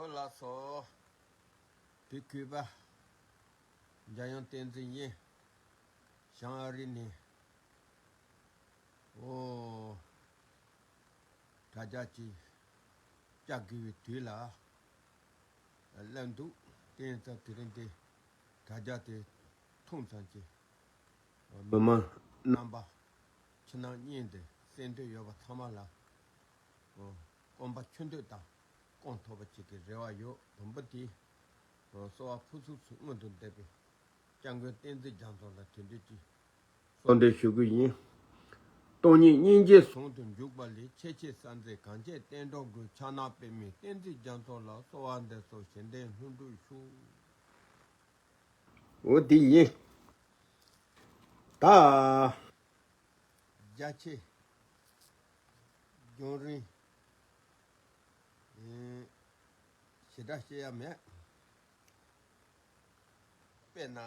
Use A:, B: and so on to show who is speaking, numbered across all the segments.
A: ཨོ་ལ་སོ། དུས་གུས་པ། འཇའ་ཡང་བསྟན་འཛིན་གཡེང། ཞང་ཨ་རི་ནི། ཨོ། དྲ་རྒྱ་ཅིག། ལྕགས་དགེ་བའི་དུས་ལ། སླེབས་འདུག་བསྟན་རྩ་དེ་རིང་དེ་དྲ་རྒྱ་དེ་ཐུང་ཙམ་གྱི་མི་མང་རྣམ་པ་ཕྱི་ནང་གཉིས་འདི་གསན་འདོད་ཡོད་པ་ཚང་མ་ལ་སྐོམ་པ་ཆུ་འདོད་དང་སྐོང་ཐོབ་པ་བྱེད་ཀྱི་རེ་བ་ཡོད་དུམ་བུ་དེའི་སོ་བ་ཕུར་ཚུགས་སུ་མངོན་དུ་འདེབས་པའི་སྐྱབས་མགོན་བསྟན་འཛིན་རྒྱ་མཚོ་ལ་དེ་འདྲའི་ཅི། གསོལ་འདེབས་ཞུ་གི་ཡིན། སྟོང་ཉིད་སྙིང་རྗེའི་ཟོང་དུ་འཇུག་པ་ལས་ཁྱད་ཆེ་ས་མཛད་གང་ཆད་བསྟན་འགྲོ་མགོན་ཕྱག་ན་པད་མའི་བསྟན་འཛིན་རྒྱ་མཚོ་ལ་གསོལ་བ་འདེབས་སོ་ཞེ་འདྲེན་ལྷུན་གྲུབ་ཞུ། འོ་དེ་ཡིན་ད། རྒྱ་ཆེ། རྒྱུན་རིང། ཞེ་དྲག་བཤད་ཡ་མེད། དཔེར་ན།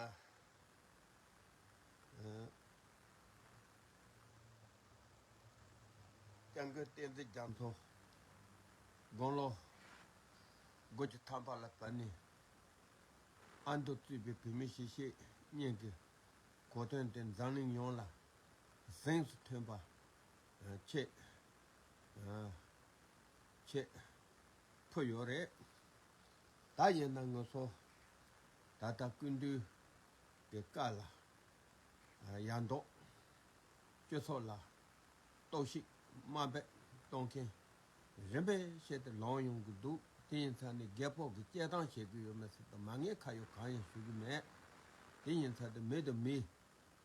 A: སྐྱབས་མགོན་བསྟན་འཛིན་རྒྱ་མཚོ། དགུང་ལོ་དགུ་བཅུ་ཐམ་པ་ལ་བབས་ནས། ཨ་མདོ་གཙོས་པའི་བོད་མི་ཞེ་བཤད་གཉིས་ཀྱི་གོ་དོན་དེ་འཛམ་གླིང་ཡོངས་ལ་གཟེངས་སུ་ཐོན་པ། ཆེད་ཕུལ་ཡོད་རེད། ད་ཡིན་ན་ངུ་སོ། ད་ལྟ་ཀུན་འདུས་ཀྱི་བཀའ་ལ། ཡར་འདོགས་སྤྱོད་ཚོགས་ལ། གཏོར་བཤིག་དམའ་འབེབས་གཏོང་མཁན། རིམ་པས་བཤད་དེ་ལོང་ཡོང་གི་འདུག་དེ་ཡིན་ཚ་ནས་རྒས་ཕོག་གི་སྐྱེལ་སྟངས་བྱེད་ཀྱི་ཡོད་མ་ཟད་དུ་མ་ངས་ཁ་ཡོད་གང་ཡང་ཞུ་གི་མེད། དེ་ཡིན་ཚ་དུ་མི་དུ་མི།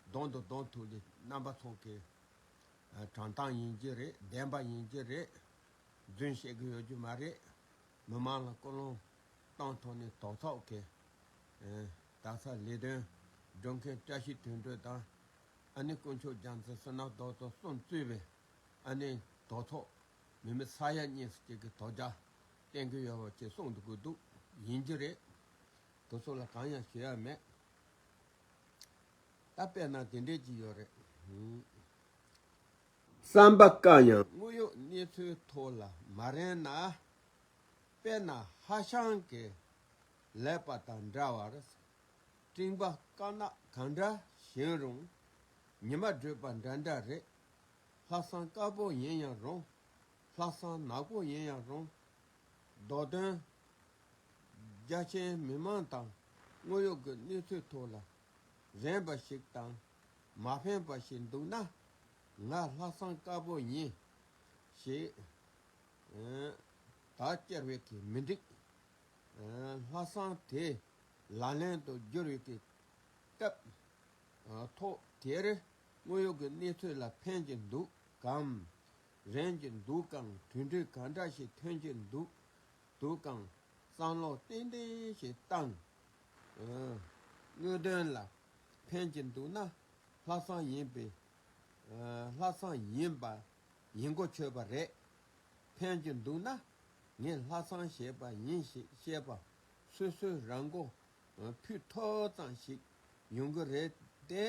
A: གདོང་དུ་གདོང་ཐུག་ལས་རྣམ་པ་ཚོགས་ཀྱི། དྲང་གཏམ་ཡིན་གྱི་རེད་བདེན་པ་ཡིན་གྱི་རེད། རྫུན་བཤད་གི་ཡོད་རྒྱུ་མ་རེད། མི་དམངས་ལ་སྐུལ་སློང་བཏང་ཐོག་ནས་དོགས་ཚོགས་ཀྱི་རྡ་ས་ལས་དོན་སྒྲུབ་མཁན་བཀྲ་ཤིས་དོན་གྲོས་དང་ཨ་ནེ་དཀོན་མཆོག་རྒྱ་མཚོའི་སུན་སྣང་དོགས་ཚོགས་གསུམ་གཙོས་པའི་ཨ་ནེ་དོགས་ཚོགས་མི་མི་ས་ཡ་གཉིས་སུ་གཅིག་གིས་དོགས་འདྲ་བསྟན་གྱི་ཡོད་པ་བཅས་གསུངས་འདུག་འདུག་ཡིན་རྒྱུ་རེད། དོ་ཚོགས་ལ་གང་ཡང་ཞུ་ཡ་མེད་ད་དཔེ་ན་དེ་འདྲས་ཀྱི་ཡོད་རེད། བསམ་པ་དཀའ་ཡང། དངོས་ཡོད་གནས་ཚུལ་ཐོག་ལ་མ་རན་ན། དཔེར་ན་ཧ་ཤང་གི་ལས་པ་དང་འདྲ་བར། སྤྲིངས་པ་དཀར་ནག་གང་འདྲ་བཞེངས་རུང། ཉི་མ་བགྲོད་པ་འདྲ་འདྲ་རེད། ལྷ་བསང་དཀར་པོ་ཡིན་ཡང་རུང། ལྷ་བསང་ནག་པོ་ཡིན་ཡང་རུང། རྡོག་ཐོན། རྒྱ་ཆེན་མི་མང་དང་དངོས་ཡོད་ཀྱི་གནས་ཚུལ་ཐོག་ལ་གཟན་པ་ཞིག་དང་མ་ཕན་པ་ཞིག་འདུག་ན། ང་ལྷ་བསང་དཀར་པོ་ཡིན། ཞེས། ད་སྐྱར་བས་ཀྱི་མི་འགྲིག། ལྷ་བསང་དེ་ལ་ལན་དུ་བསྒྱུར་བས་ཀྱི་སྐབས། ཐོག་དེར་དངོས་ཡོད་ཀྱི་གནས་ཚུལ་ལ་ཕན་གྱི་འདུག་གམ། རན་གྱི་འདུག་གམ་དུད་འགྲོས་ག་འདྲ་ཞིག་ཐོན་གྱི་འདུག་གམ། བསམ་བློ་ཏན་ཏན་ཞིག་བཏང་དངོས་དོན་ལ་ཕན་གྱི་འདུག་ན་ལྷ་བསང་ཡིན་པས། ལྷ་བསང་ཡིན་པ་ཡིན་གོ་ཆོད་པ་རེད། ཕན་གྱི་འདུག་ན་ངས་ལྷ་བསང་ཞེས་པ་ཡིན་ཞེས་བཤད་པ་སོ་སོའི་རང་མགོ་ཕུད་མཐོ་ཙམ་ཞིག་ཡོང་གི་རེད་དེ།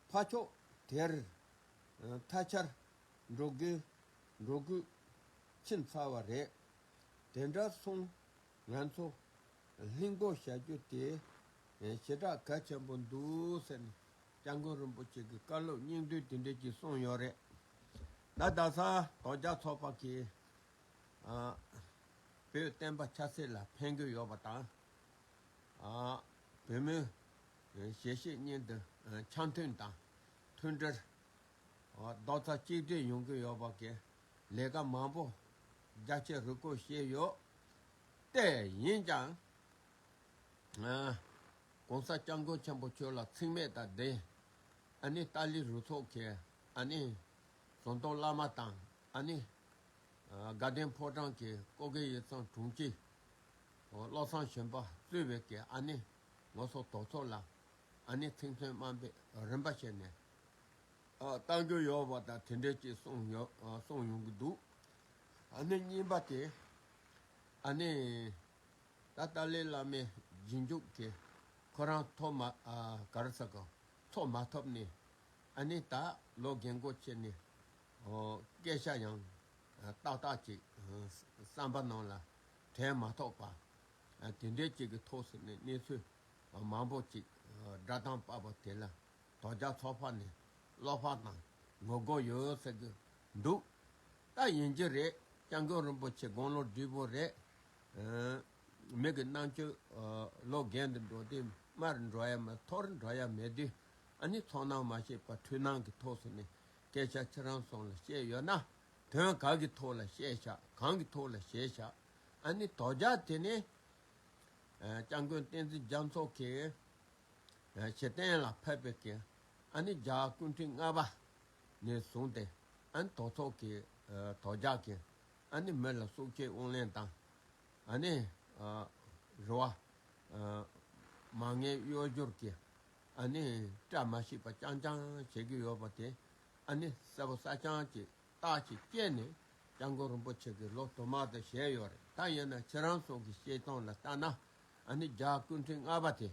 A: ཕ་ཕྱོགས་དེར་ཐལ་ཆར་འགྲོ་དགོས་འགྲོ་དགོས་ཕྱིན་ཚར་བ་རེད། དེ་འདྲ་སོང་ང་ཚོ་ལྷིང་པོ་བྱ་རྒྱུ་དེ་ཞེ་དྲག་གལ་ཆེན་པོ་འདུག་ཟེར་ནས་སྐྱབས་མགོན་རིན་པོ་ཆེ་གི་བཀའ་སློབ་སྙིང་བསྡུས་དེ་འབྲེལ་གྱིས་གསུངས་ཡོད་རེད། ད་རྡ་ས་དོ་རྒྱ་ཚོགས་པ་གིས་བོད་བསྟན་པ་ཆབ་སྲིད་ལ་ཕན་རྒྱུ་ཡོད་པ་དང། བོད་མིའི་ཞལ་བཞེས་གཉིས་འདི་འཆམ་མཐུན་དང་མཐུན་སྒྲིལ། རྡོག་རྩ་གཅིག་སྒྲིལ་ཡོང་གི་ཡོད་པ་གི་ལས་ཀ་མང་པོ་རྒྱ་ཆེ་རུ་སྐོར་བྱས་ཡོད། ཏེ། ཡིན་ཀྱང། ྋགོང་ས ྋསྐྱབས་མགོན་ཆེན་པོ་ཁྱོད་ལ་ཚིག་མེད་དང་ལྡན། ཨཱ་ནི་ཏཱ་ལའི་རུ་ཚོགས་ཀྱི་ཨཱ་ནི། ཟོང་དོང་བླ་མ་དང་ཨཱ་ནི། དགའ་ལྡན་ཕོ་བྲང་གི་ཀོ་དགེ་ཡིད་ཚང་དྲུང་ཆེ། བློ་བཟང་གཞོན་པ་གཙོས་བའི་ཀྱི་ཨཱ་ནི། ངོ་སོ་དོགས་ཚོགས་ལ་ཨཱ་ནི་ཚིག་མཚོན་དམའ་འབེབས་རིམ་པ་བྱས་ནས། གཏང་རྒྱུ་ཡོད་པ་དང་དེ་འབྲེལ་གྱིས་གསུངས་ཡོང་གི་འདུག། ཨ་ནི་བསྙེན་པ་སྟེ། ཨ་ནི། ད་ཏཱ་ལའི་བླ་མའི་རྗེས་འཇུག་གིས་ཁོ་རང་ཐོབ་མ། གར་ཚ་གི་ཚོགས་མ་ཐོབ་ནས། ཨ་ནི་ད་ལོ་རྒན་མགོ་ཆེ་ནས། སྐད་ཆ་ཡང་ཏག་ཏག་ཅིག་བསམ་པ་ནང་ལ་དྲན་མ་ཐོགས་པ། དེ་འདྲའི་ཅིག་གི་ཐོགས་ཟེར་ནས་གནས་ཚུལ་མང་པོ་ཅིག་སྒྲ་གདངས་དཔག་པ་དེ་ལ་དོ་རྒྱ་མཚོ་ཕག་ནས་བློ་ཕག་དང་ངོ་རྒོལ་ཡོད་ཟེར་གྱི་འདུག། ད་ཡིན་རྒྱུ་རེད་སྐྱབས་མགོན་རིན་པོ་ཆེ་དགུང་ལོ་དྲིས་པོ་རེད། མི་གི་སྣང་སྤྱོད་ལོ་རྒན་དུ་འགྲོ་དུས་དམར་འགྲོ་ཡ་མེད་ཐོར་འགྲོ་ཡ་མེད་དུས་ཨ་ནི་ཚོགས་ནང་མ་ཤེས་པར་འཁྲུལ་སྣང་གི་ཐོགས་སུ་ནས་སྐད་ཆ་ཁྱེད་རང་སོང་ལ་བཤད་ཡོད་ན་དོན་ག་གི་ཐོགས་ལ་བཤད་ཤག་གང་གི་ཐོགས་ལ་བཤད་ཤག་ཨ་ནི་དོ་རྒྱ་དེ་ནས་སྐྱབས་མགོན་བསྟན་འཛིན་རྒྱ་མཚོ་གིས་ཞེས་གཏན་ལ་ཕབ་པའི་སྐད་ཨ་ནི་ལྗགས་ཀུན་ཁྲི་ལྔ་པ་ནས་བཟུང་སྟེ་ཨ་ནི་དོགས་ཚོགས་ཀྱི་དོགས་ལྗགས་ཀྱི་ཨ་ནི་མི་ལ་སྲོག་ཆད་དབང་ལེན་དང་ཨ་ནི་རུ་བ། མ་ངེས་གཡོ་སྦྱོར་གྱི་ཨ་ནི་བཀྲ་མ་ཤིས་པ་རྐྱང་རྐྱང་བྱེད་ཀྱི་ཡོད་པ་དེ་ཨ་ནི་གསལ་པོ་གསལ་རྐྱང་གྱི་རྟགས་ཀྱིས་བསྐྱེད་ནས་སྐྱབས་མགོན་རིན་པོ་ཆེ་གི་ལོ་དུ་མ་དུ་བཞེས་ཡོད་རེད་ད་ཡིན་ན་ཁྱེད་རང་སོགས་ཀྱི་ཤེས་སྟངས་ལ་ལྟ་ན་ཨ་ནི་རྒྱ་སྐུ་མགྲིན་ལྔ་པ་དེ་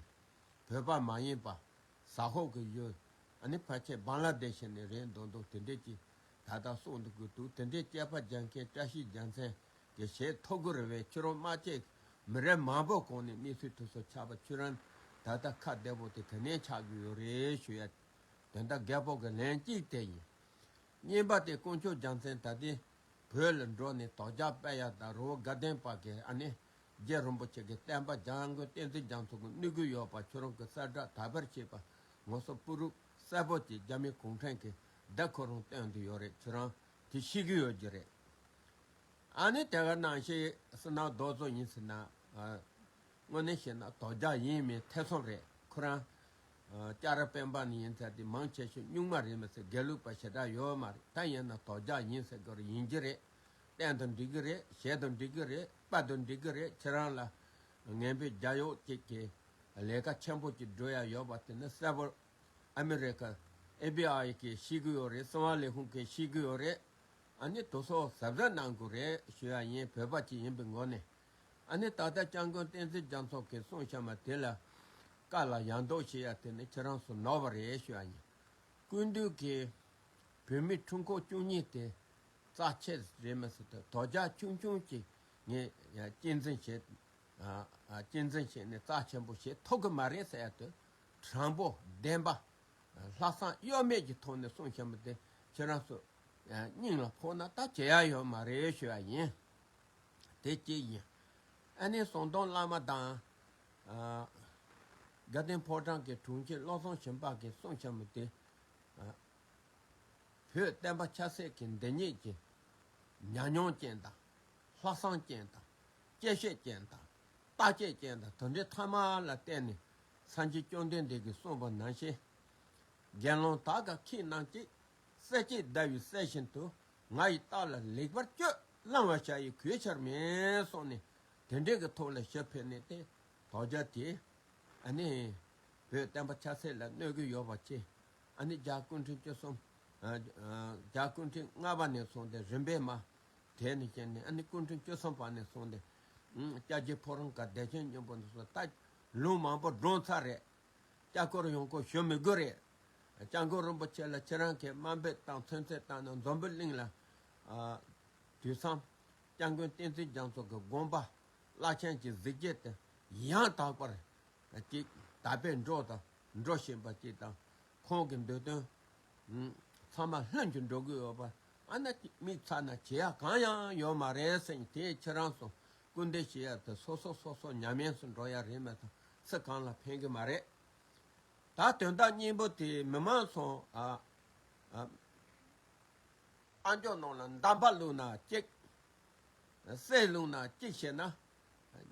A: བོད་པ་མ་ཡིན་པ་ཟ་ཧོར་གི་གཡོན་ཨ་ནི་ཕ་ཁྱེད་འབངས་ལ་དེ་ཤི་ནི་རེད་མདོག་མདོག་དེ་འདྲས་ཀྱི་ད་ལྟ་གསུང་འདི་དགོས་འདུག་དེ་འདྲས་སྐྱེས་པ་རྒྱག་མཁན་བཀྲ་ཤིས་རྒྱ་མཚན་གྱི་ཞེས་ཐོ་གུ་རི་བའི་ཁྱི་རོ་དམར་སྐྱེས་ཀྱི་མི་རབས་མང་པོ་གོང་ནས་མིག་ཧྲིལ་ཐུ་སོ་ཆགས་པ་ཁྱོད་རང་ད་ལྟ་ཁ་བདེ་པོ་དེ་ག་ནས་ཆགས་ཀྱི་ཡོད་རེད་ཞུ་ཡ། དེ་འདྲ་རྒད་པོ་གི་ལན་གཅིག་དེ་ཡིན། གཉིས་པ་དེ་དཀོན་མཆོག་རྒྱ་མཚན་ད་ལྟའི་བོད་ལ་འགྲོ་ནས་དོག་རྒྱག་དཔེ་ཡག་དང་རོ་བོ་དགའ་ལྡན་པ་གའི་ཨ་ནི་རྗེ་རིན་པོ་ཆེ་གི་བསྟན་པ་སྦྱང་དགོས་བསྟན་འཛིན་སྦྱང་ཐུབ་པའི་ནུས་རྒྱུ་ཡོད་པ་ཁྱོད་རང་གི་གསལ་བསྒྲགས་ད་བར་བྱས་པ་ངོ་སོ་པུ་རུབ་གསལ་པོ་བྱས་རྒྱ་མི་གུང་ཁྲན་གི་སྡེ་ཁོ་རང་བསྟན་དུ་ཡོད་རེད་ཁྱོད་རང་དེ་ཤེས་ཀྱི་ཡོད་རྒྱུ་རེད་ཨ་ནི་དེ་ག་ནང་ཤེས་སི་ན་རྡོ་བཟོ་ཡིན་སི་ན་དངོས་གནས་བཤད་ན་དོ་རྒྱ་ཡིན་མིན་ཐེ་ཚོམ་རེད་ཁོ་རང་སྐྱ་ར་སྤེན་པ་ནི་ཡིན་ཚད་དེ་མང་ཆེ་ཤོས་སྙུག་མ་རེད་མི་ཚད་དགེ་ལུགས་པ་ཞེ་དྲག་ཡོད་མ་རེད་ད་ཡིན་ན་དོ་རྒྱ་ཡིན་ཟེར་གི་རེད་ཡིན་གྱི་རེད་བསྟན་དུ་འགྲིག་གི་རེད་བྱེད་དུ་འགྲིག་གི་རེད་པ་དུ་འགྲིག་གི་རེད་ཁྱེད་རང་ལ་ངན་པའི་རྒྱ་ཡོག་ཅིག་གི་ལས་ཀ་ཆེན་པོ་ཅིག་འགྲོ་ཡ་ཡོད་པ་དེ་ནི་གསལ་པོར་ཨ་མི་རི་ཀ FBI གིས་ཤེས་གི་ཡོད་རེད་སྲིད་དབང་ལས་ཁུངས་གིས་ཤེས་གི་ཡོད་རེད་ཨ་ནི་དུ་སོ་གཟབ་གཟབ་གནང་དགོས་རེད་ཞུ་ཡ་ཡིན་བོད་པ་ཅིག་ཡིན་པའི་ངོ་ནས་ཨ་ནི་ད་ལྟ་སྐྱབས་མགོན་བསྟན་འཛིན་རྒྱ་མཚོ་གིས་གསུངས་བཤད་མ་དེ་ལ་བཀའ་ལ་ཡང་འདོགས་བྱེད་ཡ་དེ་ནི་ཁྱེད་རང་ཚོ་ནོར་བ་རེད་ཞུ་ཡ་ཡིན་ཀུན་འདུས་གིས་བོད་མི་འཁྲུངས་ཁོག་བཅུ་གཉིས་དེ་རྩ་ཆེ་རེད་མི་སྲིད་དོ་རྒྱ་ཆུང་ཆུང་གཅིག་ངས་གཅེས་འཛིན་བྱས་གཅེས་འཛིན་བྱས་ནས་རྩ་ཆེན་པོ་བྱེད་ཐུབ་གི་མ་རེད་ཟེར་ཡ་དུ་དྲང་པོ་བདེན་པ་ལྷག་བསམ་གཡོ་མེད་ཀྱི་ཐོག་ནས་གསུང་ཆེན་པོ་དེ་ཁྱེད་རང་ཚོ་སྙིང་ལ་ཕོག་ན་ད་བྱེད་ཡ་ཡོད་མ་རེད་ཞུ་ཡ་ཡིན་དེ་གཅིག་ཡིན་ཨ་ནེ་ཟོང་དོང་བླ་མ་དང་དགའ་ལྡན་ཕོ་བྲང་གི་དྲུང་ཆེ་བློ་བཟང་ཞིན་པ་གིས་གསུང་ཆེན་པོ་དེ། བོད་བསྟན་པ་ཆབ་སྲིད་ཀྱི་འདི་ཉིད་ཀྱི། ཉམས་མྱོང་ཅན་དང། ལྷག་བསམ་ཅན་དང། སྐྱེ་ཤེས་ཅན་དང། བརྟག་དཔྱད་ཅན་དང་དོན་འབྲས་ཐ་མ་ལ་བརྟེན་ནས་སངས་རྒྱས་བཅོམ་ལྡན་འདས་ཀྱིས་གསུངས་པ་ནང་བཞིན། དགེ་སློང་དག་ག་གིས་གནང་ཅིག། གསེར་གྱི་ཟླ་བའི་གསེར་བཞིན་དུ་ང་ཡི་རྟགས་ལ་ལེགས་པར་སྤྱོད་བླང་བར་བྱ་ཡི་གུས་ཕྱིར་མེད་གསུངས་ནས་དེ་འབྲེལ་གྱི་ཐུགས་ལ་ཞབས་ཕེབས་ནས་ཏེ། དོ་རྒྱ་དེས། ཨ་ནི། བོད་བསྟན་པ་ཆབ་སྲིད་ལ་གནོད་ཀྱི་ཡོད་པ་ཁྱེད་ཨ་ནི་བརྒྱ་སྐུད་མཁྲིག་བཅུ་གསུམ། བརྒྱ་སྐུད་མཁྲིག་ལྔ་པ་ནས་བཟུང་སྟེ་རིམ་པས་མ། དེ་ནི་ཤེས་ནས་ཨ་ནི་སྐུད་མཁྲིག་བཅུ་གསུམ་པ་ནས་བཟུང་སྟེ། སྐྱ་རྒྱལ་ཕོ་རང་དགའ་བདེ་ཆེན་སྙིང་པོ་འདི་སོ་ལྟ། ལུང་མང་པོ་སྒྲོན་ཚར་རེད། སྐྱ་ཀོར་ཡོང་ཁུངས་ཞུ་མི་དགོས་རེད། སྐྱ་མགོན་རིན་པོ་ཆེ་ལ་ཁྱེད་རང་གིས་དམའ་འབེབས་དང་ཚོད་འཛིན་བཏང་ནས་འཛམ་བུའི་གླིང་ལ། དུས་མཚམས། སྐྱ་མགོན་བསྟན་འཛིན་རྒྱ་མཚོ་གི་དགོངས་པ། བླ་ཆེན་གྱི་གཟིགས་རྒྱས་དེ། ཡང་དག་པར། ཅིག། དད་པས་འགྲོ་དང། འགྲོ་བཞིན་པ་ཅིག་དང། ཁོང་གི་འདོད་དོན། ཚང་མ་ལྷུན་གྱིས་འགྲོ་གི་ཡོད་པ། ཨ་ན་ཅིག་མིག་ཚ་ན་བྱེད་ཡག་གང་ཡང་ཡོད་མ་རེད་སེང་དེ་ཁྱེད་རང་ཚོ་སྐུལ་འདེད་བྱེད་ཡག་དེ་སོ་སོ་སོ་སོ་ཉམས་དམས་སུ་འགྲོ་ཡག་རེད་མ་ད་སི་གང་ལ་ཕན་གི་མ་རེད། ད་དོན་དག་སྙིང་པོ་དེ་མི་མང་ཚོ་ཨ་མཆོག་ནང་ལ་འདམ་པ་བླུག་ན་གཅིག། ཟས་བླུག་ན་གཅིག་བྱེད་ན།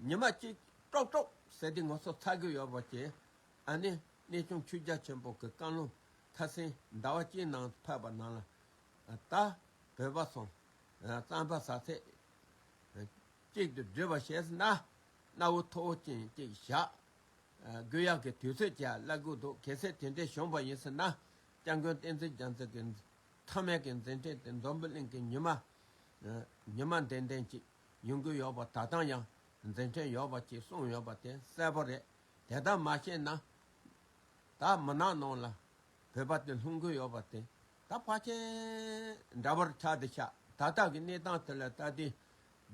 A: ཉི་མ་གཅིག་ཀྲོག་ཀྲོག་ཟེར་དེ་ངོ་སོ་ཚ་གི་ཡོད་པ་ཅིག་ཨ་ནེ་གནས་ཆུང་ཆོས་རྒྱལ་ཆེན་པོ་གི་བཀའ་ལུང་མཐར་སེང་ཟླ་བ་གཅིག་ནང་ཕེབས་པ་ན་ལ་ད་བོད་པ་སོང་གཙང་ཕ་ཟ་ཚད་ཅིག་ཏུ་བསྒྲིལ་བ་ཞེས་ན་གནའ་བོའི་མཐོ་བོ་ཅན་ཅིག་བཞག་དགོས་ཡག་གི་དུས་ཚོད་ཀྱང་བསླད་དགོས་འདུག་གལ་སྲིད་དེ་འདྲའི་བྱུང་བ་ཡིན་ཟེར་ན་སྐྱབས་མགོན་བསྟན་འཛིན་རྒྱ་མཚོས་ཀྱི་མཐའ་མའི་གི་མཛད་འཕྲིན་དེ་འཛམ་བུ་གླིང་གི་ཉི་མ་ཉི་མ་འདན་འདན་ཅིག་ཡོང་གི་ཡོད་པ་ད་ལྟང་ཡང་མཛད་འཕྲིན་ཡོད་པ་ཅིག་གསུངས་ཡོད་པ་དེ་གསལ་པོ་རེད། དེ་དག་མ་བཤད་ན། ད་མུན་ནག་ནང་ལ་བོད་པ་དེ་ལྷུང་གི་ཡོད་པ་དེ་ད་ཕ་ཆེ་འདྲ་བར་ཆགས་དེ་ཤ་ད་ལྟ་གི་གནས་སྟངས་དེ་ལ་ལྟ་དུས།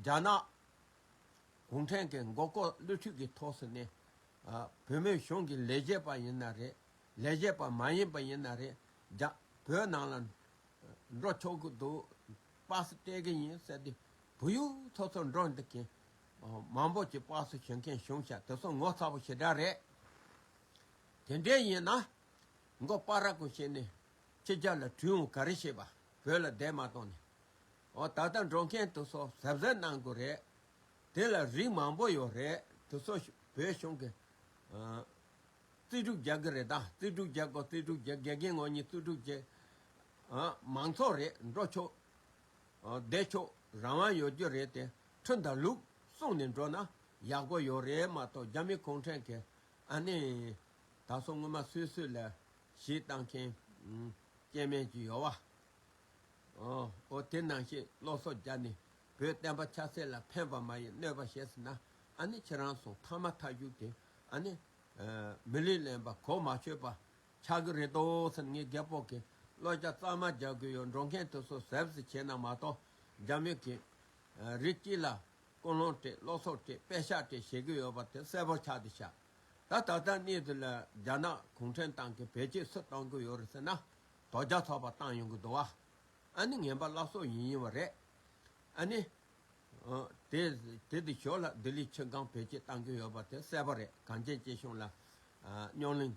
A: རྒྱ་ནག་གུང་ཁྲན་གྱི་མགོ་སྐོར་བསླུ་ཁྲིད་ཀྱི་ཐོག་སུ་ནས། བོད་མིའི་གཞུང་གི་ལས་བྱེད་པ་ཡིན་ན་རེད་ལས་བྱེད་པ་མ་ཡིན་པ་ཡིན་ན་རེད་རྒྱ་བོད་ནང་ལ་འགྲོ་ཆོག་གི་འདུག་པ་སུ་སྤྲད་གི་ཡིན་ཟེར་དུས་བུ་ཡུག་ཚོ་ཚོ་འགྲོ་འདུག་གི་མང་པོ་ཅིག་པགས་སུ་བྱོན་མཁན་གཞུང་ཞབས་དེ་ཚོ་ངོ་ཚ་པོ་ཞེ་དྲག་རེད། དེ་འདྲའི་ཡིན་ན། མགོ་པགས་ར་གོ་བྱས་ནས་ཁྱི་རྒྱ་ལ་དྲུད་འོང་ག་རེ་བྱེད་པ་བོད་ལ་བསྡད་མ་གཏོང་ནས། འོ་ད་ལྟ་འགྲོ་མཁན་དེ་ཚོ་གཟབ་གཟབ་གནང་དགོས་རེད། དེ་ལ་རིགས་མང་པོ་ཡོད་རེད་དེ་ཚོ་བོད་གཞུང་གི། རྩིས་དྲུག་རྒྱག་གི་རེད་ད་རྩིས་དྲུག་རྒྱག་གོ་རྩིས་དྲུག་རྒྱག་དགེ་རྒན་ངོ་གཉིས་རྩིས་དྲུག་བྱེད། མང་ཚོགས་རེད་འགྲོ་ཆོག། བདེ་མཆོག་རང་དབང་ཡོད་རྒྱུ་རེད་དེ་ཁྲིམས་དང་ལུགས་སྲུང་ནས་འགྲོ་ན་ཡག་པོ་ཡོད་རེད་མ་གཏོགས་རྒྱ་མི་གུང་ཁྲན་གྱི་ཨ་ནེ་ད་སོ་སྔོན་མ་སུས་སུས་ལ་ཞིས་བཏང་མཁན་སྐྱེ་དམན་གྱི་ཡོ་བ་འོ་དེ་ནང་བཞིན་བློ་སོགས་རྒྱ་ནས་བོད་བསྟན་པ་ཆགས་སྲེད་ལ་ཕན་པ་མ་ཡིན་གནོད་པ་བྱེད་སྲིད་ན་ཨ་ནེ་ཁྱེད་རང་སོང་མཐའ་མ་མཐའ་གཞུག་དེ་ཨ་ནེ་མི་ལུས་ལེན་པ་གོ་མ་ཆོད་པ་ཆགས་ཀྱི་རེད་དོ་ཟེར་ངས་རྒད་པོ་གིས་བློ་རྒྱ་གཙང་མ་རྒྱག་གི་ཡོད་འགྲོ་མཁན་དེ་ཚོ་ཟབ་ཟིག་བྱས་ན་མ་གཏོགས་རྒྱ་མི་གིས། རིགས་གཅིག་ལ། ཀུན་སློང་སྤྲད་བློ་སྲོག་སྤྲད་དཔེ་ཤག་སྤྲད་བྱེད་ཀྱི་ཡོད་པ་དེ་གསལ་པོར་ཆགས་ཏེ་བཞག་ད་ད་ལྟ་གནས་དེ་ལ་རྒྱ་ནག་གུང་ཁྲན་ཏང་གིས་བེད་སྤྱོད་སུ་གཏོང་གི་ཡོད་རེད་ཟེར་ན། དོ་རྒྱ་ཚོགས་པ་བཏང་ཡོང་གི་འདུག་བ། ཨ་ནི་ངན་པ་བླ་སྲོག་ཡིན་ཡིན་བ་རེད། ཨ་ནི། དེ། དེ་འདི་ཞོར་ལ་ལྡི་ལི་ཆིན་ཀང་བེད་སྤྱོད་བཏང་གི་ཡོད་པ་དེ་གསལ་པོ་རེད་གངས་ཅན་སྐྱིད་གཤོངས་ལ། རྙོག་གླིང།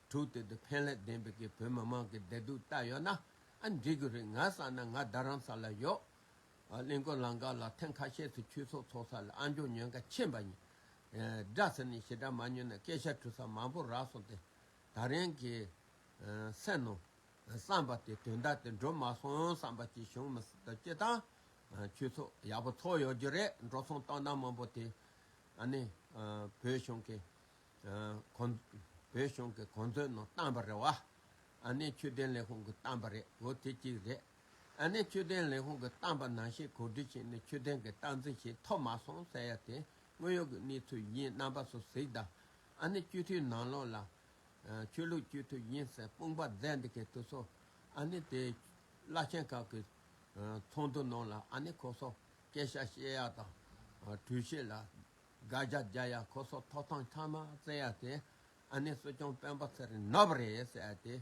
A: དྲུག་དེ་དུ་ཕན་ལས་ལྡན་པའི་གི་བོད་མི་མང་གི་བདེ་སྡུག་ལྟ་ཡོད་ན་ཨ་འགྲིག་གི་རེད་ང་བསམ་ན་ང་རྡ་རམ་ས་ལ་ཡོད། གླིང་དགོན་ལང་ཀ་ལ་ཐེངས་ཁ་ཤས་སུ་ཁྱུ་ཚོགས་ཚོགས་ས་ལ་ཨ་མཆོག་ཉོན་ཀ་ཆེན་པ་ཡིན། སྒྲ་ཟེར་ནས་ཞེ་དྲག་མ་ཉོན་ན་སྐད་ཤ་འཁྲུ་ས་མང་པོ་རག་སོང་སྟེ། ད་རན་གི། སེམས་ནང། བསམ་པ་དེ་དོན་དག་དེ་འགྲུབ་མ་སོང་བསམ་པ་གྱིས་བྱུང་མི་སྲིད་དོ་སྤྱི་དང། ཁྱུ་ཚོགས་ཡག་པོ་ཚོགས་ཡོད་རྒྱུ་རེད་འགྲོ་སོང་གཏོང་སྟངས་མང་པོ་དེ། ཨ་ནི། བོད་གཞུང་གི། བོད་གཞུང་གི་གོང་མཛོད་ནང་བཏང་བ་རེད་བ། ཨ་ནེ་ཆོས་ལྡན་ལས་ཁུང་གི་བཏང་བ་རེད་གོ་དེ་གཅིག་རེད། ཨ་ནེ་ཆོས་ལྡན་ལས་ཁུང་གི་བཏང་བ་ནང་བཞིན་གོ་སྒྲིག་བྱས་ནས་ཆོས་ལྡན་གྱི་སྟངས་འཛིན་བྱས་ཐོབ་མ་སོང་གསལ་ཡ་དེ་དངོས་ཡོད་ཀྱི་གནས་ཚུལ་ཡིན་རྣམ་པ་སོ་གཟིགས་དང། ཨ་ནེ་སྤྱི་འཐུས་ནང་ལོགས་ལ། ཆོས་ལུགས་སྤྱི་འཐུས་ཡིན་ཟེར་དཔུང་པ་མཛད་འདི་གའི་དུས་སུ། ཨ་ནེ་དེ། བླ་ཆེན་ཁག་གི། ཚོགས་འདུ་ནང་ལ་ཨ་ནེ་ཁོ་སོགས་སྐད་ཆ་བཤད་ཡ་དང། གྲོས་བཤད་ལ། སྒ་རྒྱ་རྒྱ་ཡ་ཁོ་སོགས་ཐོག་ཐང་ཁྱག་ནག་བཙལ་ཡ་དེ་ཨ་ནེ་གསོ་སྐྱོང་སྤེན་པ་ཚེ་རིང་ནོར་བ་རེད་ཟེར་ཡ་དེ།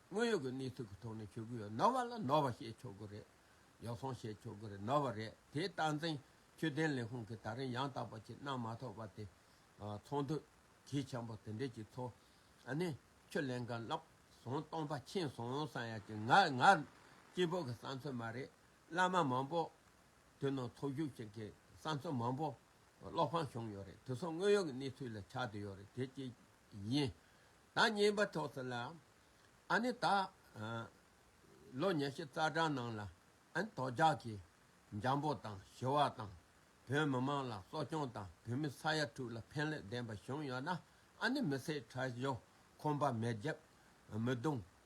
A: དངོས་ཡོད་ཀྱི་གནས་ཚུལ་གྱི་ཐོག་ནས་ཤོད་གི་ཡོད་ནོར་བ་ལ་ནོར་བ་བཤད་ཆོག་གི་རེད། ཡོ་སྲང་བཤད་ཆོག་གི་རེད་ནོར་བ་རེད་དེ་རྟ་མཚན་ཁྱོད་བདེན་ལས་ཁུང་གི་ད་རིང་ཡང་དག་པ་ཅིག་གནང་མ་ཐོག་པ་དེ། ཚོང་དུད་གྱིས་ཆེན་པོ་དེ་འདྲས་ཀྱི་ཚོ་ཨ་ནེ་ཁྱོད་ལན་གང་བསླབས་སོང་སྟོང་པ་ཕྱིན་སོང་ཟང་ཡ་ཀྱི་ང་ང་སྐྱིད་པོ་གི་ས་མཚོན་མ་རེད། བླ་མ་མང་པོ། དེ་ནང་མཐོ་རྒྱུགས་བྱེད་མཁན་གསར་འཚོ་མང་པོ། བློ་ཕམ་བྱུང་ཡོད་རེད་དེ་ཚོ་དངོས་ཡོད་ཀྱི་གནས་ཚུལ་ལ་ཆགས་བསྡད་ཡོད་རེད་དེ་ཅི། ཡིན། ད་བརྙན་པར་ཐོག་ཚོད་ལ། ཨ་ནི་ད། ལོ་ཉེར་བཞི་རྩ་གྲངས་ནང་ལ། ཨན་དོ་ཇག་གིས། འཇམ་པོ་དང་ཞི་བ་དང། བོད་མི་མང་ལ་གསོ་སྐྱོང་དང་བོད་མི་ས་ཡ་དྲུག་ལ་ཕན་ལས་ལྡན་པ་བྱུང་ཡོད་ན་ཨ་ནི་མི་ཚེའི་ཁྲ་ཞོ་ཁོམ་པ་མེད་རྒྱབ། མི་རྡུང།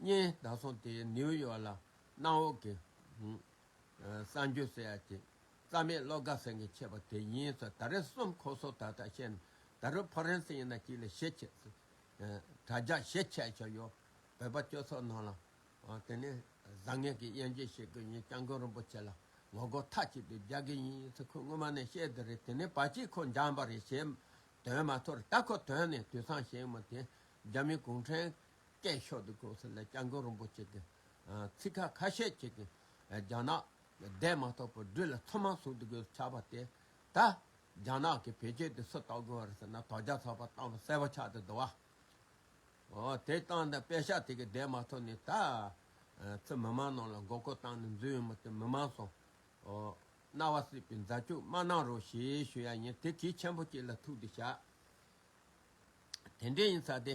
A: གཉིས་ཟླ་སོང་དེ་ནིའུ་ཡོག་ལ་གནམ་འོག་གི་གསར་འགྱུར་ཟེར་ཡག་དེ་རྩ་མེད་བློ་དགའ་ཟེར་མཁན་ཁྱེད་པ་དེ་ཡིན་ཟེར་ད་རེས་སུམ་ཁོ་སོ་ད་ད་བཤད་ན་ད་རུ་ཕ་རན་སི་ཡིན་ན་གཅིག་ལ་ཞེ་ཆད་ཟེར་དྲ་རྒྱ་ཞེ་ཆད་བྱས་ཡོད་བོད་པ་སྤྱོད་ཚོགས་ནང་ལ་དེ་ནས་བཟང་ངན་གྱི་དབྱེ་འབྱེད་བྱེད་དགོས་ཡིན་སྐྱབས་མགོན་རིན་པོ་ཆེ་ལ་ངོ་རྒོལ་མཐའ་གཅིག་ཏུ་རྒྱག་གི་ཡིན་ཟེར་ཁོས་སྔོན་མ་ནས་བཤད་དེ་རེད་དེ་ནས་བ་གཅིག་ཁོ་འཇམ་པ་རེད་ཞེས་དོན་མ་ཐོར་ད་ཁོ་དོན་ནས་དུས་སང་བཤད་མོ་དེ་རྒྱ་མི་གུང་ཁྲན་སྐད་ཤོད་དུ་གོ་ས་ལ་སྐྱབས་མགོན་རིན་པོ་ཆེ་གི་ཚིག་ཁ་ཁ་ཤས་ཅིག་གིས་རྒྱ་ནག་བདེ་མ་གཏོགས་པར་བསྒྲུས་ལ་ཚང་མ་ཟུག་ཏུ་གོས་ཆགས་པ་དེ་ད་རྒྱ་ནག་གིས་བེད་སྤྱོད་དུ་སུ་གཏོགས་དགོས་རེད་ཟེར་ན་དོ་རྒྱ་ཚོགས་པ་བཏང་བ་གསལ་བོ་ཆགས་ཏེ་འདུག་བ། དེ་བཏང་ན་པེ་ཤ་ཐིག་གི་བདེ་མ་ཐོབ་ནས་ད་ཚོད་མི་མང་ནང་ལ་མགོ་སྐོར་བཏང་ནས་འཛུལ་ཡོང་མི་ཐུབ་མི་མང་སོང་རྣ་བ་སྲིད་པའི་མཛའ་གཅུགས་མ་གནང་རོགས་ཞེས་ཞུ་ཡ་ཡིན་དེ་གིས་ཆེན་པོ་གཅིག་ལ་ཐུག་དུ་ཤ་དེ་འདྲས་ཡིན་ས་དེ་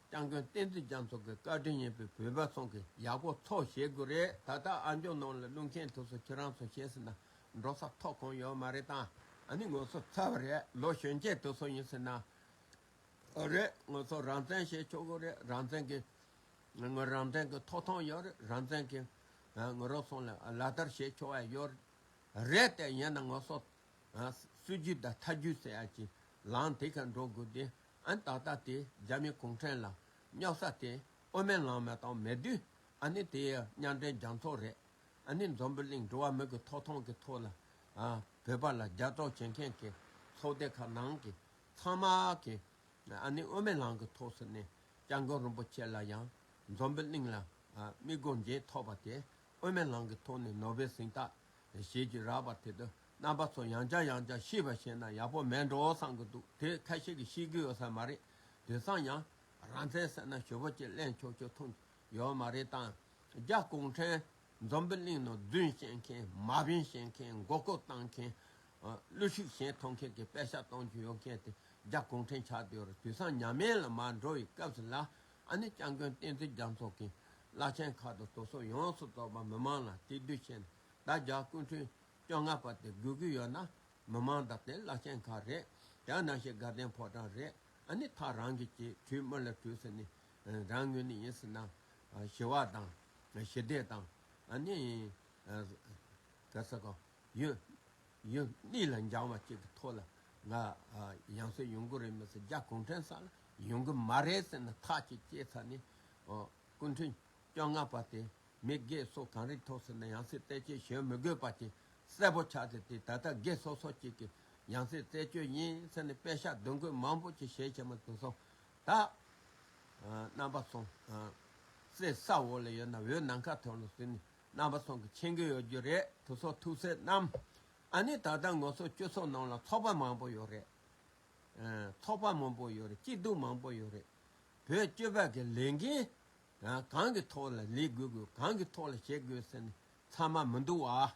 A: ཀྲང་ཀོན་བསྟན་འཛིན་རྒྱ་མཚོ་གི་བཀའ་དྲིན་ཉེས་པའི་བོད་པ་ཚང་གི་ཡག་པོ་འཚོ་ཞེས་དགོས་རེད་ད་ལྟ་ཨ་མཆོག་ནང་ལ་བླུག་མཁན་དུ་སུ་ཁྱེད་རང་ཚོ་ཤེས་སྲིད་ན་འགྲོ་ས་ཐོག་ཁོང་ཡོད་མ་རེད་ད་ཨ་ནི་ངོ་སོ་ཚ་བ་རེད་ལོ་གཞོན་སྐྱེས་དུ་སུ་ཡིན་སྲིད་ན་འོ་རེད་ངོ་སོ་རང་བཙན་བྱེད་ཆོག་གི་རེད་རང་བཙན་གི་ངོ་རང་བཙན་གི་ཐོག་ཐང་ཡོད་རེད་རང་བཙན་གི་ངོ་རང་སོང་ལ་ལ་དར་བྱེད་ཆོག་ཡོད་རེད་དེ་ཡིན་ན་ངོ་སོ་སྲོལ་རྒྱུན་དང་མཐའ་རྒྱུད་ཟེར་ཡག་ཅིག་ལའང་དེ་གར་འགྲོ་དགོས་ཏེ། ཨན་ཏག་ཏག་དེ་རྒྱ་མི་གུང་ཁྲན་ལ་རྙོག་ས་དེ་དབུ་མའི་ལངས་མ་དང་མེད་དུས་ཨ་ནི་དེ་ཡི་རྙང་འདྲེན་རྒྱང་ཐོག་རེད། ཨ་ནི་འཛམ་བུ་གླིང་འགྲོ་བ་མི་གི་ཐོག་ཐང་གི་ཐོག་ལ་བོད་པ་ལ་རྒྱ་གཏོགས་བྱེད་མཁན་གི་ཚོགས་སྡེ་ཁག་ནང་གི་ཚང་མ་གི་ཨ་ནི་དབུ་མའི་ལངས་གི་ཐོག་སུ་ནས་སྐྱབས་མགོན་རིན་པོ་ཆེ་ལ་ཡང་འཛམ་བུ་གླིང་ལ་དམིགས་སྒོ་འབྱེད་ཐོག་པ་དེ་དབུ་མའི་ལངས་གི་ཐོག་ནས་ནོ་བེལ་གཟེངས་རྟགས་ཞེས་ཀྱི་རགས་པ་དེ་དུ་རྣམ་པ་ཚོ་ཡང་བསྐྱར་ཡང་བསྐྱར་ཤེས་པ་ཤེས་ན་ཡག་པོ་མེད་འགྲོ་བསམ་གྱི་འདུག་དེ་ཁ་ཤས་ཀྱི་ཤེས་ཀྱི་ཡོད་ས་མ་རེད་དེ་སང་ཡང་རང་བཙན་ཟེར་ན་ཞོ་བོ་ཅེ་གླེང་ཆོག་ཆོག་ཐུག་གི་ཡོད་མ་རེད་དམ་རྒྱ་གུང་ཁྲན་འཛོམས་པོ་གླིང་ནང་རྫུན་བཤད་མཁན་མ་བིན་བཤད་མཁན་མགོ་སྐོར་བཏང་མཁན་གླུ་ཤུགས་གཞན་མཐོང་མཁན་གྱི་དཔེ་ཤ་གཏོང་གི་ཡོད་མཁན་དེ་རྒྱ་གུང་ཁྲན་ཆགས་དུས་ར་དུས་སང་ཉམས་དམན་ལ་མ་འགྲོ་བའི་སྐབས་སུ་ལ་ཨ་ནེ་སྐྱབས་མགོན་བསྟན་འཛིན་རྒྱ་མཚོ་གིས་བླ་ཆེན་ཁག་ཏུ་དུར་སྲོལ་ཡོངས་སུ་རྫོགས་པ་མི་མང་ལ་དེ་དུས་ཆེན་བདག་རྒྱ་སྐུ་འཕྲེང་བཅོ་ལྔ་པ་དེ་དགོས་ཀྱི་ཡོད་ན། མི་མང་དག་དེ་བླ་ཆེན་ཁག་རེད་དེའང་ནང་བཞིན་དགའ་ལྡན་ཕོ་བྲང་རེད་ཨ་ནེ་ཐག་རང་གིས་ཀྱིས་བྲུས་དམུ་ལ་བྲུས་ཟེར་ནི་རང་ངོས་ནས་ཡིན་ཟེར་ན། ཞི་བ་དང། ཞི་བདེ་དང། ཨ་ནེ། ཡོད། ཡུལ་གནས་ལ་འགྱངས་བ་གཅིག་གི་ཐོག་ལ་ང་ཡང་སྲིད་ཡོང་གི་རེད་མི་སྲིད་རྒྱ་གུང་ཁྲན་ས་ལ་ཡོང་གི་མ་རེད་ཟེར་ན་ཐག་གཅིག་བཅད་ཚར་ནས། སྐུ་མགྲོན་བཅོ་ལྔ་པ་དེ་མི་སྒེར་སོ་གང་རིགས་ཐོག་ཟེར་ན་ཡང་སྲིད་བཙལ་བྱོལ་བྱེད་མི་དགོས་པ་བཅས་གསལ་པོ་ཆགས་ཟིན་དེ་ད་ལྟ་སྒེར་སོ་སོ་གཅིག་གིས་ཡང་སྲིད་བཙལ་བྱོལ་ཡིན་ཟེར་ནས་དཔེ་ཤག་བསྡུ་འགོད་མང་པོ་བྱས་བྱས་བྱས་མ་ཐུབ་སོང་ད། རྣམ་པ་སོང། སྲིད་ས་འོག་ལ་ཡོད་ན་འོད་ནམ་མཁའ་མཐོན་ལ་ཟུག་ནས་རྣམ་པ་ཚང་གི་མཆན་འགོད་ཡོད་རྒྱུ་རེད་དུ་སོགས་ཐུགས་སེལ་གནང། ཨ་ནི་ད་ལྟ་ངོ་སོ་བཅུ་ཚོགས་ནང་ལ་ཚོགས་པ་མང་པོ་ཡོད་རེད། ཚོགས་པ་མང་པོ་ཡོད་རེད་སྐྱིད་སྡུག་མང་པོ་ཡོད་རེད། བོད་སྐྱོད་པ་གི་ལས་འགན་གང་གི་ཐོག་ལ་ལས་དགོས་དགོས་གང་གི་ཐོག་ལ་བྱེད་དགོས་ཟེར་ནས་ཚང་མ་མི་འདུག་བ།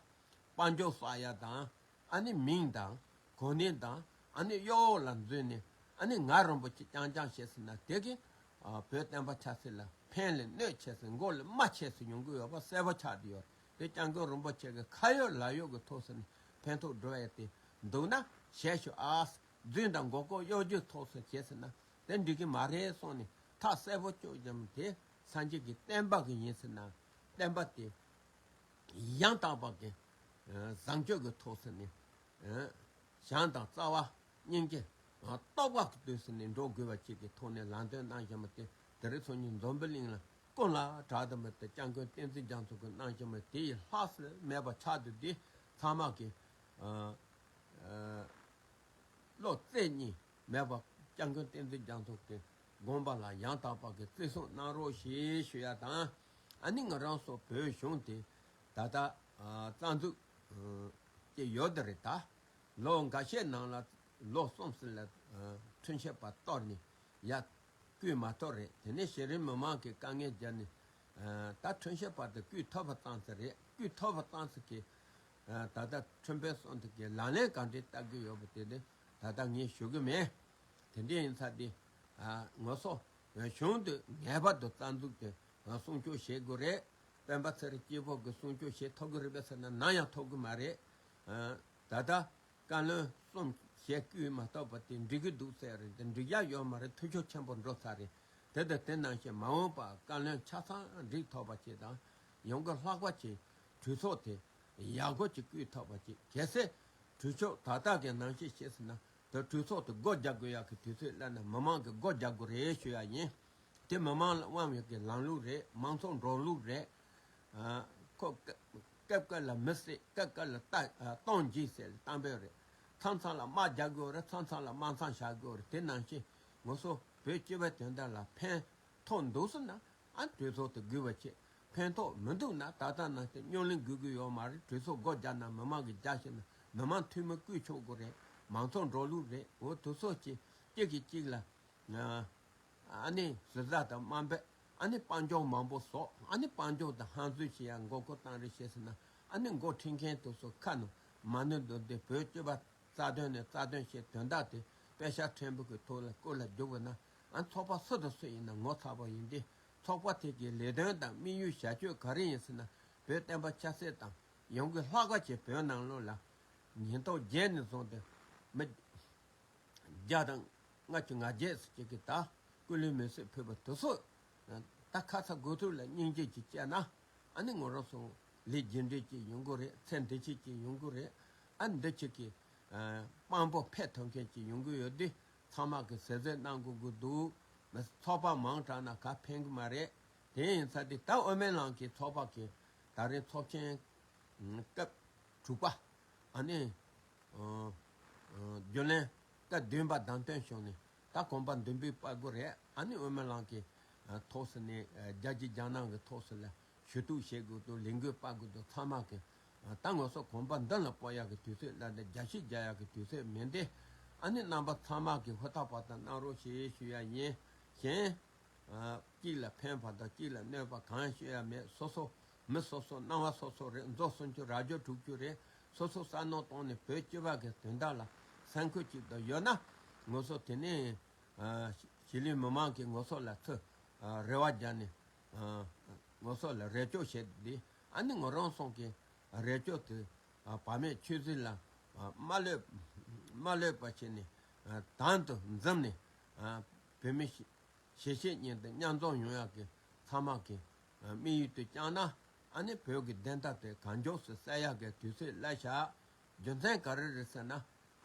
A: དཔའ་མགྱོགས་བསགས་ཡ་དང། ཨ་ནི་མིང་དང། གོ་ནི་དང། ཨ་ནི་གཡོ་འོག་ལ་འཛུལ་ནས་ཨ་ནི་ང་རོན་པོ་ཆེ་རྐྱང་རྐྱང་བྱེད་ཟིན་ན་དེ་གིས་བོད་བསྟན་པ་ཆགས་སྲིད་ལ་ཕན་ལས་གནོད་ཆེ་སྲིད་མགོ་ལས་དམའ་ཆེ་སྲིད་ཡོང་གི་ཡོད་པ་གསལ་པོ་ཆགས་དེ་ཡོད་དེ་རྐྱང་གོ་རོན་པོ་ཆེ་གི་ཁ་ཡོད་ལག་ཡོད་ཀྱི་ཐོག་སུ་ནས་ཕན་ཐོག་འགྲོ་ཡས་དེ་འདུག་ན་བྱས་ཤོག་ཨཱས་རྫུན་དང་མགོ་སྐོར་གཡོ་རྒྱུའི་ཐོག་སུ་བྱས་ཟིན་ན་དེ་འགྲིག་གི་མ་རེད་གསུངས་ནས་ཐག་གསལ་པོ་གཅོད་རྒྱམ་དེ་སངས་རྒྱས་ཀྱི་བསྟན་པ་གི་ཡིན་ཟིན་ན་བསྟན་པ་དེ། ཡང་དག་པར་གྱི་བཟང་སྤྱོད་ཀྱི་ཐོག་སུ་ནི། བྱང་དང་རྩ་བ། སྙིང་རྗེ། རྟོགས་པ་གྱི་དུས་སུ་ནི་འགྲོ་དགོས་པ་བཅས་ཀྱི་ཐོག་ནས་ལམ་སྟོན་གནང་བཞིན་པ་དེ་དེ་རིང་ཚོགས་གཉིས་འཛོམས་པའི་གླིང་ལ་ཀུན་ལ་གྲགས་ལྡན་པ་དེ་སྤྱང་མགོན་བསྟན་འཛིན་རྒྱ་མཚོ་གིས་གནང་བཞིན་པ་དེ་ཡི་ལྷག་བསམ་མེད་པ་ཆགས་འདུག་འདི་ཚང་མ་གི། བློ་རྩེ་གཉིས་མེད་པ་སྤྱང་མགོན་བསྟན་འཛིན་རྒྱ་མཚོ་གི་དགོངས་པ་ལ་ཡང་དག་པར་གྱི་བརྩི་སྲུང་གནང་རོགས་ཞེས་ཞུ་ཡ་དང། ཨ་ནི་ང་རང་སོགས་བོད་གཞུང་དེ་ད་ལྟ་རྩ་འཛུགས་ཀྱི་ཡོད་དོ་རེད་ད། ལོ་འགའ་ཤས་ནང་ལ་ལོ་གསུམ་ཟིན་ལ་ཐུན་ཆད་པ་གཏོར་ནས་ཡ་བསྐུལ་མ་ཐོབ་རེད་དེ་ནས་གཞི་རིམ་མི་མང་གི་དཀའ་ངལ་སྦྱར་ནས་ད་ཐུན་ཆད་པ་དེ་བསྐུལ་ཐོབ་པ་ཙང་ཙི་རེད་བསྐུལ་ཐོབ་པ་ཙང་ཙི་གིས་ད་ལྟ་ཁྲིམས་དཔོན་སོགས་འདི་གིས་ལག་ལེན་གང་འདྲའི་བསྟར་གྱི་ཡོད་པ་དེ་ནི་ད་ལྟ་ངས་ཞུ་གི་མེད་དེ་འདྲས་ཡིན་ཚ་དེ་ངོ་སོ་བའི་གཞུང་དུ་ངེས་པར་དུ་རྩ་འཛུགས་དེ་སྲུང་སྐྱོང་བྱེད་དགོས་རེད། སྤེན་པ་ཚེ་རིང་སྐྱིད་ཕོ་གི་སྲུང་སྐྱོང་བྱེད་ཐོབ་གི་རེད་པས་ཟེར་ན་ནམ་ཡང་ཐོབ་གི་མ་རེད། ད་ལྟ་བཀའ་བློན་གསུམ་བཞེས་བསྐུལ་མ་གཏོགས་པ་དེ་འགྲིག་གི་འདུག་ཟེར་རེད་དེ་འགྲིག་ཡ་ཡོད་མ་རེད་འཐུས་ཤོར་ཆེན་པོ་འགྲོ་ས་རེད། དེ་དང་དེ་ནང་བཞིན་མ་འོངས་པར་བཀའ་བློན་ཆ་ཚང་འགྲིག་ཐོབ་པ་བྱེད་དང། ཡང་གི་ལྷག་པ་བྱེད་གྲོས་ཚོགས་དེ་ཡག་པོ་ཅིག་བསྐུལ་ཐོབ་པ་བྱེད་གལ་སྲིད་གྲོས་ཆོག་ད་ལྟ་གི་ནང་བཞིན་བྱེད་ཟེར་ན་དེར་གྲོས་ཚོགས་དེ་སྒོ་རྒྱག་དགོས་ཡག་གི་དུས་ཚོད་སླད་ན་མི་མང་གི་སྒོ་རྒྱག་དགོས་རེད་ཞུ་ཡག་ཡིན། དེ་མི་མང་ལ་དབང་བའི་གི་ལང་ལུགས་རེད་མང་ཚོགས་འགྲོགས་ལུགས་རེད། ཁོ་སྐབས་སྐབས་ལ་མི་བསད་སྐབས་སྐབས་ལ་སྟངས་འཇིག་བསད་ལ་སྟངས་འབེབས་རེད། ཚང་ཚང་ལ་དམག་རྒྱག་དགོས་རེད་ཚང་ཚང་ལ་དམག་འཚང་བཞག་དགོས་རེད་དེ་ནང་བཞིན་ངོ་སོ་བོད་སྤྱི་བ་དེ་འདྲ་ལ་ཕན་ཐོག་འདུག་བསམ་ན་ཨ་གྲོས་ཚོགས་དེ་འགུལ་བ་ཆེ། ཕན་ཐོག་མི་འདུག་ན་ད་ལྟ་ནང་བསྟན་རྙོག་གླིང་འགུལ་དགོས་ཡོད་མ་རེད་གྲོས་ཚོགས་སྒོ་རྒྱག་ན་མི་མང་གི་རྒྱག་ཤེས་ན་མི་མང་འཐུས་མི་བསྐུལ་ཆོག་གོ་རེད་མང་ཚོགས་འགྲོ་ལུགས་རེད་འོ་དུ་སོ་ཅི་གཅིག་གིས་གཅིག་ལ། ཨ་ནི་ཟུར་ཟ་དང་དམའ་འབེབས་ཨ་ནི་སྤང་ལྗོངས་མང་པོ་ཟོ་ཨ་ནི་སྤང་ལྗོངས་དང་ཧང་བཟོས་བྱེད་ཡ་མགོ་སྐོར་བཏང་རེད་བཤད་ཟིན་ན་ཨ་ནི་མགོ་འཕྲིན་མཁན་དུ་སོ་ཁ་ནུ་མ་ནུ་འདུག་འདི་བོད་སྤྱི་བ་རྩ་དོན་ནས་རྩ་དོན་བཤད་དོན་དག་དེ་དཔེ་ཤ་ཕྲན་བུ་གི་ཐུགས་ལ་སྐུ་ལ་རྒྱུག་པ་ན་ཚོགས་པ་སུ་དང་སུ་ཡིན་ན་ངོ་ཚ་བ་ཡིན་ཏེ། ཚོགས་པ་དེ་གའི་ལས་དོན་དང་དམིགས་ཡུལ་བྱ་སྤྱོད་ག་རེ་ཡིན་ཟེར་ན་བོད་བསྟན་པ་ཆབ་སྲིད་དང་ཡོངས་ཀྱི་ལྷག་པ་ཆེ་བོད་ནང་ལོ་ལ་ཉིན་ཐོ་བརྒྱད་ནས་བཟུང་སྟེ་མི་བརྒྱ་དང་ལྔ་བཅུ་ང་བརྒྱད་སུ་གཅིག་གིས་ད་སྐུ་ལུས་མེར་སྲེག་ཕུལ་བ་དེ་ཚོ་ད་ཁ་ཚ་དགོས་ཐུག་ལ་སྙིང་རྗེ་གཅིག་བསྐྱེད་ན་ཨ་ནི་ངོ་རོ་སོང་ལས་རྒྱུ་འབྲས་ཅིག་ཡོང་གི་རེད་ཚེ་འདི་ཕྱི་གཅིག་ཡོང་གི་རེད་ཨ་འདི་གཅིག་གིས་དཔང་པོ་འཕེལ་ཐུབ་མཁན་ཅིག་ཡོང་གི་ཡོད་དུས་ཚང་མ་གི་ཟེར་ཟེར་གནང་དགོས་གི་འདུག་མི་ཚོགས་པ་མང་དྲགས་ན་ག་ཕན་གི་མ་རེད་དེ་ཡིན་ཚ་དེ་ད་ཨོ་མན་ལང་གི་ཚོགས་པ་གི་ད་རེ་ཚོགས་ཆེན་སྐབས་དྲུག་པ་ཨ་ནི་རྒྱུན་ལས་སྐབས་བདུན་པ་བདམས་ཐོན་བྱུང་ནས་ད་གོམ་པ་མདུན་སྤོས་སྤར་དགོས་རེད་ཨ་ནི་ཨོ་མན་ལང་གི་ཐོགས་སུ་ནས་རྒྱ་སྤྱི་རྒྱ་ནང་གི་ཐོགས་སུ་ལ་ཞུ་གཏུགས་བྱེད་དགོས་གི་འདུག་ལས་འགུལ་སྤར་དགོས་གི་འདུག་ཚང་མ་གི་ད་ངོ་སོ་གོམ་པ་འདི་ལ་པོ་ཡག་གི་དུས་ཚོད་བླ་འདྲེ་རྒྱ་ཤི་རྒྱ་ཡག་གི་དུས་ཚོད་མིན་ཏེ། ཨ་ནི་རྣམ་པ་ཚང་མ་གི་ཧུ་ཐག་པ་ད་གནང་རོགས་ཞེས་ཞུ་ཡ་ཡིན། གཞན། གཅིག་ལ་ཕན་བ་དང་གཅིག་ལ་གནོད་པ་གང་ཞུ་ཡ་མེད་སོ་སོ་མི་སོ་སོ་སྣང་བ་སོ་སོ་རེད་མཛོ་སུམ་ཅུ་ར་བརྒྱ་དྲུག་ཅུ་རེད་སོ་སོ་ས་ནོར་གཏོང་ནས་བོད་སྤྱི་བ་གི་དོན་དག་ལ་སེམས་ཁུར་གཅིག་ཏུ་ཡོད་ན་ངོ་སོ་དེ་ནས་གཞི་ལུས་མི་མང་གི་ངོ་སོ་ལ་ཚུར་རེ་བ་རྒྱག་ནས་ངོ་སོ་ལ་རེ་བཅོག་བྱེད་དེ་ཨ་ནི་ངོ་རང་སོང་གི་རས་སྐྱོགས་དེ་བག་མེད་ཆོས་འཛིན་ལ་རྨ་ལྷོད་པ་བྱས་ནས་དང་དུ་འཛོམས་ནས། བོད་མི་ཞེ་བཤེས་གཉེན་དང་མཉམ་འཛོམས་ཡོང་ཡག་གི་ཚང་མ་གི་དམིགས་ཡུལ་དུ་བསྐྱངས་ན་ཨ་ནི་བོད་གི་བདེན་མཐའ་དེ་གང་མགྱོགས་སུ་གསལ་ཡག་གི་དུས་ཚོད་གླ་ཤག་རྒྱུ་མཚན་ག་རེ་རེད་ཟེར་ན།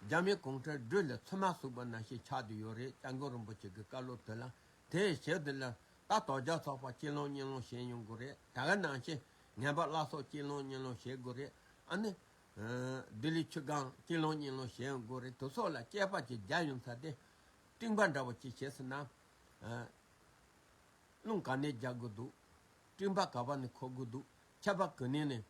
A: རྒྱ་མི་གུང་ཁྲན་སྦྲུལ་ལ་ཚོད་མ་ཟུག་པ་ན་ཞིག་ཆགས་དུ་ཡོད་རེད་སྐྱབས་མགོན་རིན་པོ་ཆེ་གི་བཀའ་སློབ་དེ་ལ་དེའི་ཞལ་དུ་ལ་ད་དོ་རྒྱ་ཚོགས་པ་སྤྱི་ལོང་གཉིས་ལོང་བཞེངས་ཡོང་དགོས་རེད། ད་ག་ནང་ཆེ་ངན་པ་བླ་སྲོག་སྐྱིད་ལོང་གཉིད་ལོང་བྱེད་དགོས་རེད་ཨ་ནི། ལྡི་ལི་ཆུ་སྒང་སྐྱིད་ལོང་གཉིད་ལོང་བྱེད་དགོས་རེད་དུ་སྲོག་ལ་སྐྱེས་པ་གཅིག་རྒྱ་ཡོང་ས་དེ། སྤྲིང་པ་འདྲ་བོ་གཅིག་བྱེད་སྲིད་ན། རླུང་ག་ནས་རྒྱག་དགོས་འདུག་སྤྲིང་པ་ག་བ་ནས་འཁོར་དགོས་འདུག་ཁྱབ་པ་གི་ནས་ནས་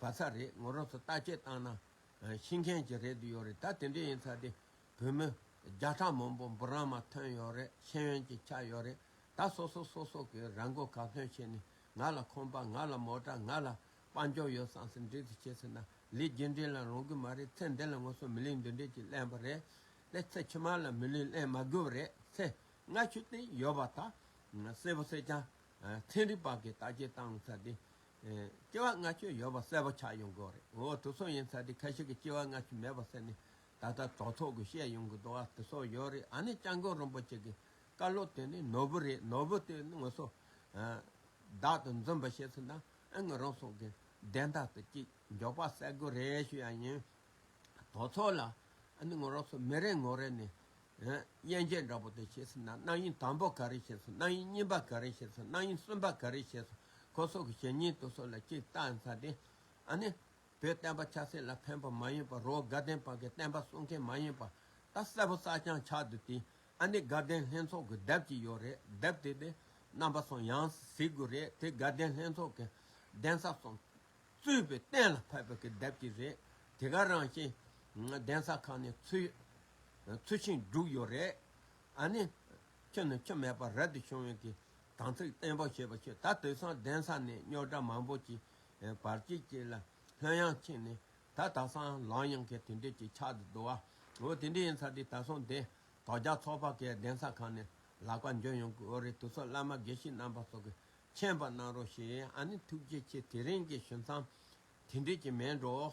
A: བབས་ས་རེད་ངོ་རང་ཚོ་བརྟག་དཔྱད་བཏང་ན། ཤིང་མཁན་གྱི་རེད་དུ་ཡོད་རེད་ད་དེ་འདྲས་ཡིན་ས་དེ། བོད་མི་བརྒྱ་ཕྲག་མང་པོ་འབུ་རམ་མ་ཐོན་ཡོད་རེད་ཤེས་ཡོན་གྱི་ཆ་ཡོད་རེད་ད་སོ་སོ་སོ་སོ་གི་རང་མགོ་ག་ཐོན་བྱེད་ནི་ང་ལ་ཁོམ་པ་ང་ལ་མོ་ཏྲ་ང་ལ་དཔའ་འཇོག་ཡོད་སང་ཟིན་བྲིས་དེ་བྱེད་ཟེར་ན་ལས་རྒྱུ་འབྲས་ལ་རུང་གི་མ་རེད་ཚེ་འདི་ལ་ངོ་སོ་མི་ལེན་རྒྱུ་འབྲས་ཀྱི་གླེན་པ་རེད་དེ་ཚེ་ཕྱི་མ་ལ་མི་ལུས་གླེན་མ་དགོས་པ་རེད་ཚེ་སྔ་ཆུ་སྟེང་ཡོད་པ་དག་གསལ་པོ་གསལ་རྐྱང་ཚན་རིག་པ་གི་བརྟག་དཔྱད་བཏང་ཚར་དེ། སྐྱེ་བ་སྔ་ཆུ་ཡོད་པ་གསལ་པོ་ཆགས་ཡོང་དགོས་རེད་འོ་དུ་སོ་ཡིན་ཚར་དེ་ཁ་ཤས་ཀྱི་སྐྱེ་བ་སྔ་ཆུ་མེད་པ་ཟེར་ནི་ད་ལྟ་དོག་ཐོག་གི་བཤད་ཡོང་གི་འདུག་ཨ་དེ་སོགས་ཡོད་རེད་ཨ་ནི་སྤྱང་མགོན་རིན་པོ་ཆེ་གི་བཀའ་སློབ་དེ་ནི་ནོར་བུ་རེད་ནོར་བུ་དེ་ངོ་སོ་བདག་ཏུ་འཛིན་པ་ཤེས་ཚུལ་དང་ངོས་རང་སོགས་ཀྱི་བདེན་རྟགས་དེ་གཅིག་མགྱོགས་པ་གསལ་དགོས་རེ་ཞུ་ཡང་ཡིན། དོག་ཐོག་ལ་ཨ་ནི་ངོ་རང་སོ་མི་རེ་ངོ་རེ་ནས་དབྱེན་འབྱེད་འདྲ་པོ་དེ་བྱེད་ཚུལ་དང་རྣམ་དབྱེ་དང་པོ་ག་རེ་བྱེད་ཚུལ་རྣམ་དབྱེ་གཉིས་པ་ག་རེ་བྱེད་ཚུལ་རྣམ་དབྱེ་གསུམ་པ་ག་རེ་བྱེད་ཚུལ་ཁོ་སོགས་ཀྱི་བྱས་ཉེས་དེ་སོགས་ལ་གཅིག་བལྟ་ས་དེ་ཨ་ནི། བོད་བསྟན་པ་ཆགས་སྲེད་ལ་ཕན་པ་མ་ཡིན་པར་རོ་དགའ་ལྡན་ཕག་གི་བསྟན་པ་སྲུང་མཁན་མ་ཡིན་པ་ད་གསལ་པོ་གསག་རྐྱང་ཆགས་འདུག་དེ་ཨ་ནི་དགའ་ལྡན་ལྷན་ཚོགས་ཀྱི་དེབ་ཅིག་ཡོད་རེད་དེབ་དེ་དེ་རྣམ་པ་སོང་ཡང་གཟིགས་དགོས་རེད་དེ་དགའ་ལྡན་ལྷན་ཚོགས་ཀྱི་གདན་ས་སོང་གཙོས་པའི་གཏན་ལ་ཕབ་པའི་གི་དེབ་ཅིག་རེད་དེ་ག་རང་བཞིན་གདན་ས་ཁག་ནས་ཚུལ་བཞིན་བསྒྲུགས་ཡོད་རེད་ཨ་ནི་ཁྱོད་ནི་ཁྱོད་མེད་པར་རལ་དུ་བྱུང་བའི་གི་དམ་ཚིག་བརྟན་པོ་ཞེས་པ་ཞིག་ད་དུས་སང་གདན་ས་ནས་རྙོག་དྲ་མང་པོ་ཅིག་བར་ཅི་བྱས་ལ་ལྷོད་ཡང་ཕྱིན་ནས་ད་དག་སང་ལང་ཡང་ཁའི་དེ་འདྲས་ཀྱི་ཕྱག་ཏུ་བསྡུ་བའོ། དེ་འདྲས་ཡིན་ཚར་དུས་ད་སོང་དེ་དོ་རྒྱ་མཚོ་ཕ་གའི་གདན་ས་ཁང་ནས་ལག་པ་འཇོ་ཡོང་གི་འོ་རེད་དུས་སོགས་བླ་མ་དགེ་བཤེས་རྣམ་པ་སོགས་ཀྱི་མཁྱེན་པ་གནང་རོགས་ཞེས་ཨ་ནི་ཐུགས་རྗེ་ཆེ་དེ་རིང་གི་ཞུ་མཚམས་དེ་འདྲས་ཀྱི་མེད་འགྲོ།